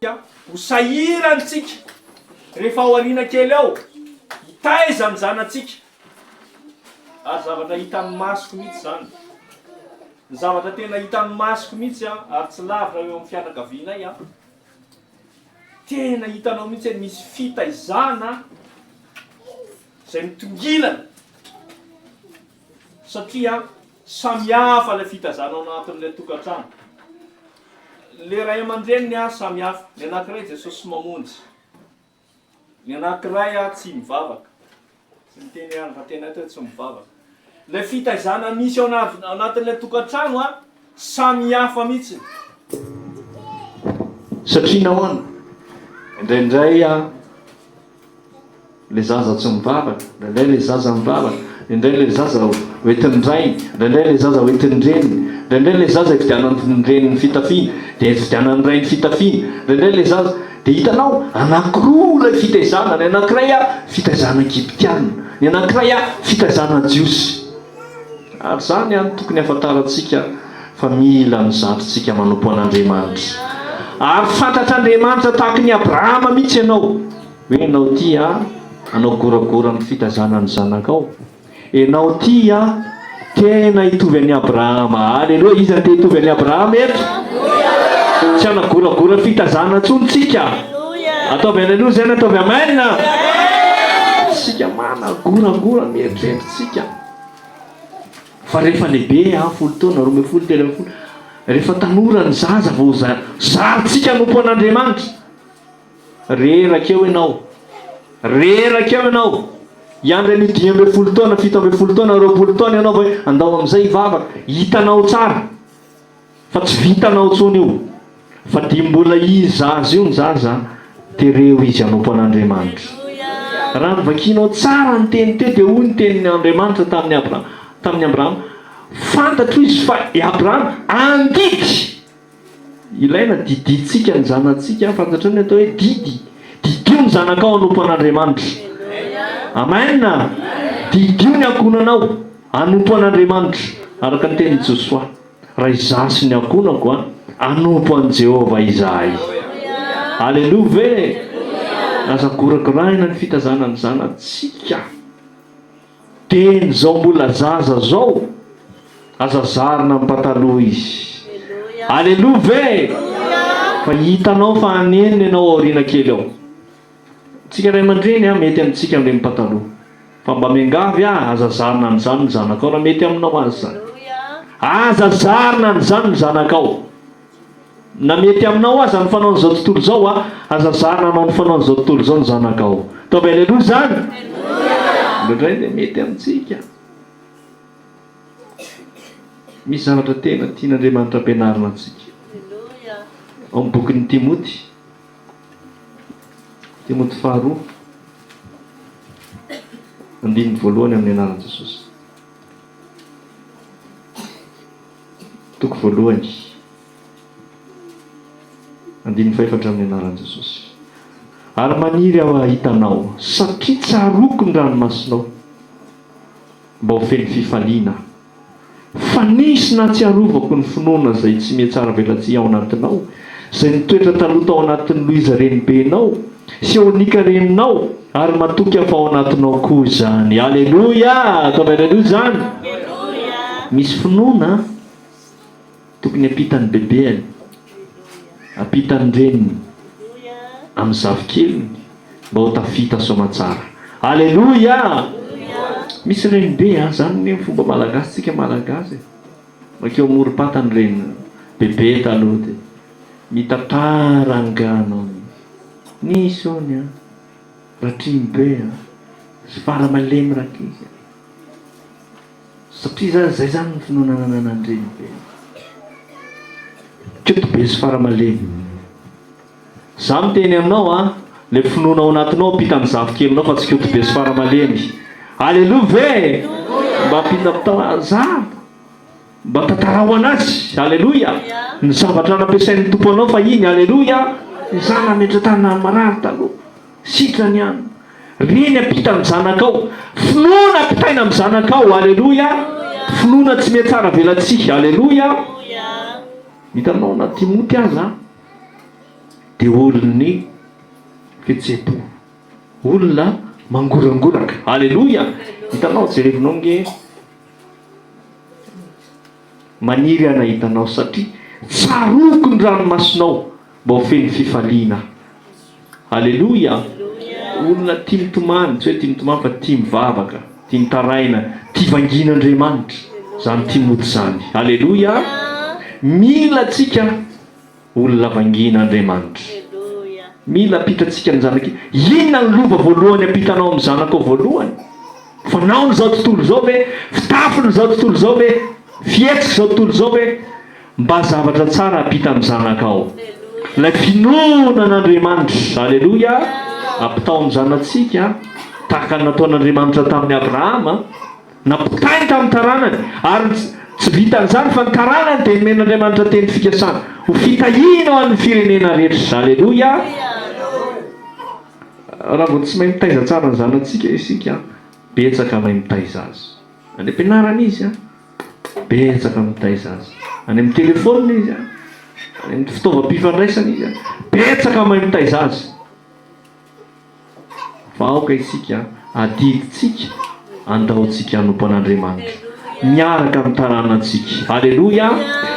dia ho sahirana isika rehefa ao aoriana kely ao hitaiza ny zanatsika ary zavatra hitan'ny masoko mihitsy izany ny zavatra tena hitan'ny masoko mihitsy a ary tsy lavina eo amin'ny fianakavianay a tena hitanao mihitsy hoe misy fitaizana izay mitongilana Satria samihafa ilay fitazana ao anatin'ilay tokantrano. Ilay ray aman-dreniny ary samihafa. Ny anankiray Jesosy mamonjy. Ny anankiray ary tsy mivavaka. Tsy miteny ihany fa tena eto hoe tsy mivavaka. Ilay fitaizana misy ao anatin'ilay tokantrano Samy hafa mihitsy. Satria nahoana? Indraindray ilay zaza tsy mivavaka, indraindray ilay zaza mivavaka, indraindray ilay zaza hoentin'ny rainy, indraindray ilay zaza hoentin'ny reniny, indraindray ilay zaza ifidianan'ny reniny ny fitafiana, dia ifidianan'ny rainy ny fitafiana, indraindray ilay zaza, dia hitanao, anankiroa ilay fitaizana, ny anankiray fitaizana Egyptiana, ny anankiray fitaizana Jiosy. Ary izany ihany tokony hahafantarantsika fa mila mizatra isika manompo an'Andriamanitra. Ary fantatr'Andriamanitra tahaka an'i Abrahama mihitsy ianao hoe ianao tia anao goragora amin'ny fitazana ny zanakao. Ianao tia tena hitovy an'i Abrahama. Aleloia! Iza no te hitovy an'i Abrahama eto? Tsy hanagoragora fitazana intsony tsika. Ataovy aleloia izay na ataovy amen. Tsika managoragora mieritreritra. Tsika. Fa rehefa lehibe an, folo taona, roa ambin'ny folo, telo ambin'ny folo, rehefa tanora ny zaza vao zarintsika anompo an'Andriamanitra. Reraka eo ianao. Reraka eo ianao. Hiandry an'io dimy ambin'ny folo taona, fito ambin'ny folo taona, roapolo taona ianao vao hoe andao amin'izay hivavaka. Hitanao tsara. Fa tsy vitanao tsony io fa dia mbola izy zaza io ny zaza tereo izy hanompo an'Andriamanitra raha ny vakianao tsara ny teny teo dia hoy ny tenin' Andriamanitra tamin'i Abrahama tamin'i Abrahama fantatro izy fa i Abrahama andidy ilaina didintsika ny zanatsika fantatrao ny atao hoe didy didio ny zanakao hanompo an'Andriamanitra amen didio ny ankohonanao hanompo an'Andriamanitra araka ny tenin'i Josoa Ray za sy ny ankohonako a, hanompo an'i Jehovah izahay. Aleloa ve? Aza goragoraina ny fitazana ny zanatsika. Dieny izao mbola zaza izao, aza zarina amin'ny pataloha izy. Aleloa ve? Fa hitanao fa hanenina ianao aoriana kely ao. Tsika ray aman-dreny a mety amintsika mireny pataloha fa mba miangavy a aza zarina an'izany ny zanakao raha mety aminao aza izany aza zarina an'izany ny zanakao na mety aminao aza ny fanaon'izao tontolo izao a aza zarina hanao ny fanaon'izao tontolo izao ny zanakao ataovy aleloa izany indraindray dia mety amintsika misy zavatra tena tian'Andriamanitra ampianarina antsika ao amin'ny bokin'i Timoty Timoty faharoa, andininy voalohany amin'ny anaran'i Jesosy. Toko voalohany, andininy fahefatra amin'ny anaran'i Jesosy. Ary maniry aho hahita anao, satria tsaroako ny ranomasinao, mba ho feno fifaliana Fa nisy nahatsiarovako ny finoana izay tsy mihatsaravelatsihy ao anatinao, izay nitoetra taloha tao anatin'i Louise renibenao, sy eo Nika reninao, ary matoky hafa ao anatinao koa izany. Aleloia! Ataovy Aleloia izany! Misy finoana an! Tokony ampitan'ny bebeany, ampitan'ny reniny amin'ny zafikeliny mba ho tafita soamantsara. Aleloia! Misy renibe an, zany ny fomba malagasy tsika malagasy e, makeo amorom-pata ny reniny, bebe taloha de mitantara angano aminy, nisy ony an, ratriny be an, fara malemy rankizy an. Satria zany zay zany ny finoana nananan'ny renibeny. Keto be sy fara malemy. Za miteny aminao a, le finoana ao anatinao ampita ny zafikelinao fa tsy koto be sy fara malemy. Aleloa ve? Mba ampita za mba tantaraho anazy. Aleloia. Ny zavatra nampiasain'ny Tompo anao fahiny. Aleloia. Izaho nametra tany marary taloha. Sitrany an! Ry ny ampitan'ny zanakao, finoana ampitaina amin'ny zanakao, aleloia, finoana tsy mihatsaravelatsihy, aleloia, hitanao na Timoty aza dia olon'ny fihetseham-po, olona mangorangoraka, aleloia, hitanao jerevinao nge maniry aho nahita anao satria tsaroako ny ranomasinao, Mbô feno fifaliana. Aleloia! Olona tia mitomany, tsy hoe tia mitomany fa tia mivavaka, tia mitaraina, tia vangin'Andriamanitra izany Timoty izany. Aleloia! Mila antsika olona vangin'Andriamanitra. Mila ampita antsika ny zanak'i. Inona ny lova voalohany ampitanao amin'ny zanakao voalohany? Fanaon'izao tontolo izao ve? Fitafin'izao tontolo izao ve? Fihetsik'izao tontolo izao ve? Mba zavatra tsara hampita amin'ny zanakao. Ilay finoana an'Andriamanitra. Aleloia! Ampitao amin'ny zanatsika, tahaka ny nataon'Andriamanitra tamin'i Abrahama. Nampitainy tamin'ny taranany. Ary tsy, tsy vitan'izany fa ny taranany dia nomen'Andriamanitra teny fikasana. Ho fitahiana ho an'ny firenena rehetra. Aleloia! Raha vao tsy mahay mitaiza tsara ny zanatsika isika, betsaka mahay mitaiza azy. Any am-pianarana izy an. Betsaka mitaiza azy. Any amin'ny telefaoniny izy, any amin'ny fitaovam-pifandraisana izy. Betsaka mahay mitaiza azy. Fa aoka isika adidintsika, andaontsika hanompo an'Andriamanitra miaraka amin'ny taranantsika. Aleloia!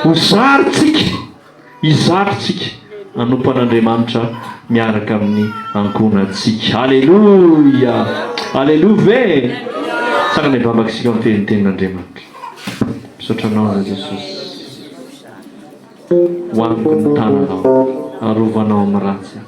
Ho zarintsika. Hizara isika hanompo an'Andriamanitra miaraka amin'ny ankohonantsika. Aleloia! Aleloia ve? Tsara ny vavaka isika miteny ny tenin'Andriamanitra. Misaotra anao Ra Jesosy. Hoaniko ny tananao, arovanao amin'ny ratsy aho.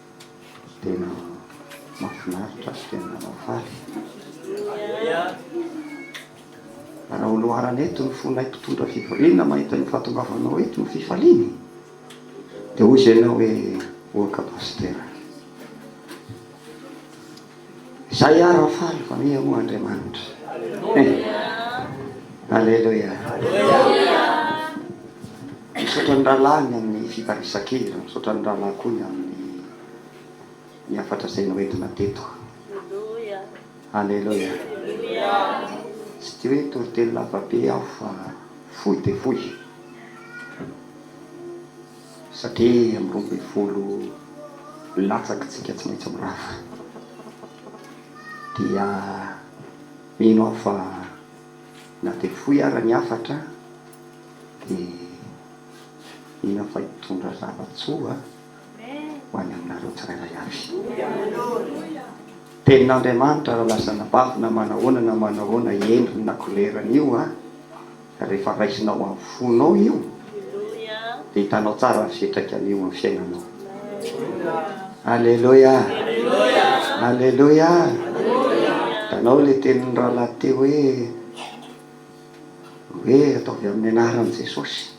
Tena mahafinaritra sy tena mahafaly. Raha ho loharana eto ny fonay mpitondra fivoriana mahita ny fahatongavanao eto ny fifaliany dia hoy izay ianao hoe Ohaka Pasitera. Zay ara ho faly fa miha moa Andriamanitra eh! Aleloia! Misaotra ny rahalahy ny amin'ny fitarisan-kery, misaotra ny rahalahy koa ny amin'ny ny hafatra izay noentina teto. Aleloia! Tsy tia hoe toriteny lava be aho fa fohy dia fohy. Satria amin'ny roa ambin'ny folo latsaky tsika tsy maintsy mirava dia mino aho fa na dia fohy ara ny hafatra dia mino aho fa hitondra zava-tsoa ho any aminareo tsirairay avy tenin'Andriamanitra raha lasa anabavy na manahoana na manahoana endriny na kolerany io an! Rehefa raisinao amin'ny fonao io dia hitanao tsara ny fiantraikany eo amin'ny fiainanao. Aleloia! Aleloia! Hitanao ilay tenin'ny rahalahy teo hoe, hoe ataovy amin'ny anaran'i Jesosy.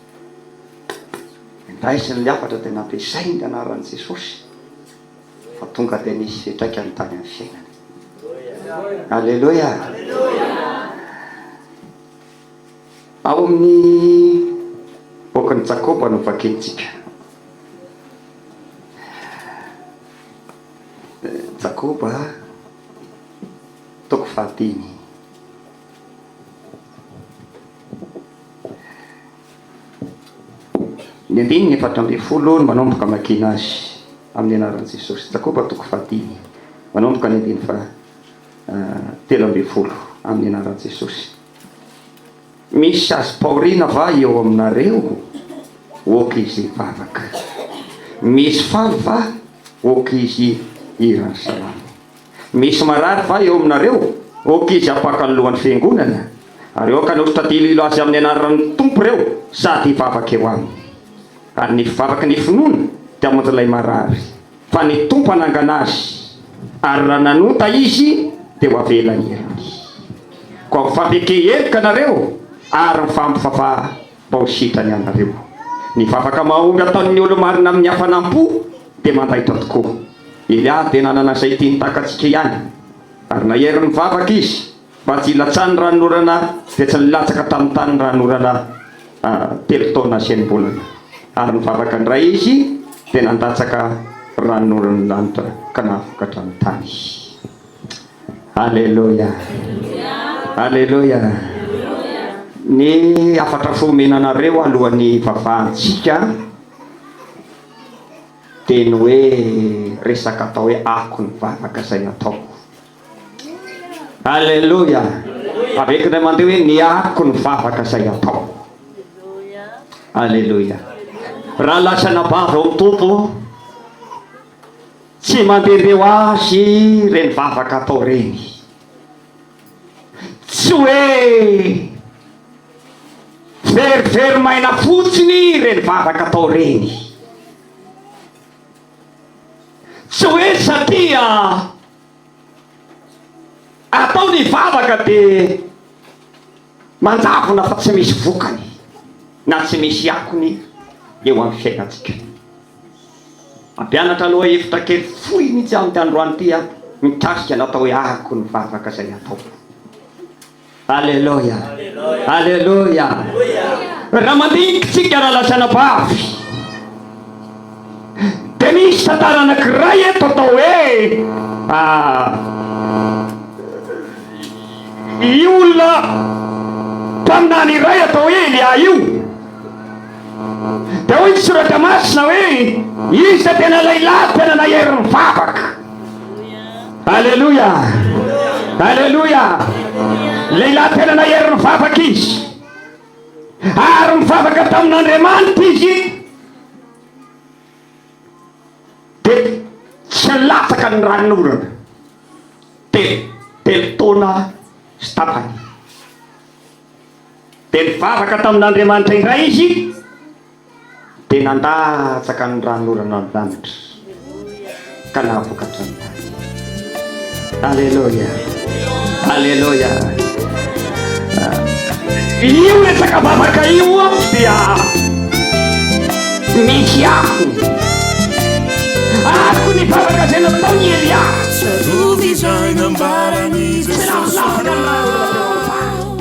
Indraisiny ilay hafatra dia nampiasainy ny anaran'i Jesosy fa tonga dia nisy fiantraikany tany amin'ny fiainany. Aleloia! Ao amin'ny bokin'i Jakoba no vakintsika. Jakoba toko fahadimy. Ny andininy efatra ambin'ny folo no manomboka makiana azy amin'ny anaran'i Jesosy. Jakoba toko fahadimy, manomboka ny andininy faha. telo ambin'ny folo amin'ny anaran'i Jesosy. Misy azo paorina va eo aminareo? Ok izy hivavaka. Misy faly va? Ok izy hihira ny salamo. Misy marary va eo aminareo? Ok izy hapaka ny lohan'ny fiangonana. Ary ok hanoritra diloilo azy amin'ny anaran'ny Tompo ireo sady hivavaka eo aminy. Ary ny fivavaka ny finoana dia hamonjy ilay marary. Fa ny Tompo hanangana azy, ary raha nanota izy, dia ho avela hierony. Koa mifampiekehy heloka nareo, ary mifampivava bao sitrany ianareo. Ny vavaka mahomby ataon'ny olo-marina amin'ny hafanam-po dia mandaitra tokoa. Elia dia nanana izay tiany takatsika ihany, ary nahery nivavaka izy. Mba tsy hilatsahan'ny ranonorana dia tsy nilatsaka tamin'ny tany ny ranonorana telo taona nasiam-bolana. Ary nivavaka indray izy dia nandatsaka ranonoran'ny lanitra ka nahavokatra ny tany. Aleloia! Aleloia! Ny hafatra fomena anareo alohan'ny hivavahantsika dia ny hoe resaka atao hoe akony vavaka izay ataoko. Aleloia. Avec ilay mandeha hoe ny ariko ny vavaka izay atao. Aleloia. Raha lasa anabavy ao amin'ny Tompo, tsy mandehandeha ho azy ireny vavaka atao ireny. Tsy hoe very very maina fotsiny ireny vavaka atao ireny. Tsy hoe satria Atao ny vavaka dia manjavona fa tsy misy vokany na tsy misy akony eo amin'ny fiainantsika. Mampianatra aloha hevitra kely fohy mihitsy aho amin'ity androany ity mikasika ny atao hoe arako ny vavaka izay ataoko. Aleloia! Aleloia! Raha mandinika isika raha lazaina vavy dia misy tantara anankiray eto atao hoe ah, io olona mpaminany iray atao hoe Elia io Dia hoy ny Soratra Masina hoe, Iza tena lehilahy tena nahery nivavaka? Aleloia! Aleloia! Lehilahy tena nahery nivavaka izy. Ary nivavaka tamin'Andriamanitra izy. Dia tsy latsaka ny ranon'orana. Telo, telo taona sy tapany. Dia nivavaka tamin'Andriamanitra indray izy, dia nandatsaka ny ran'orana ny lanitra ka nahavokatra ny tany. Aleloia! Aleloia! Io resaka vavaka io dia misy akony. Akony vavaka izay nataon'i Elia. Tsarovy izay nambaran'i Jesosy anao.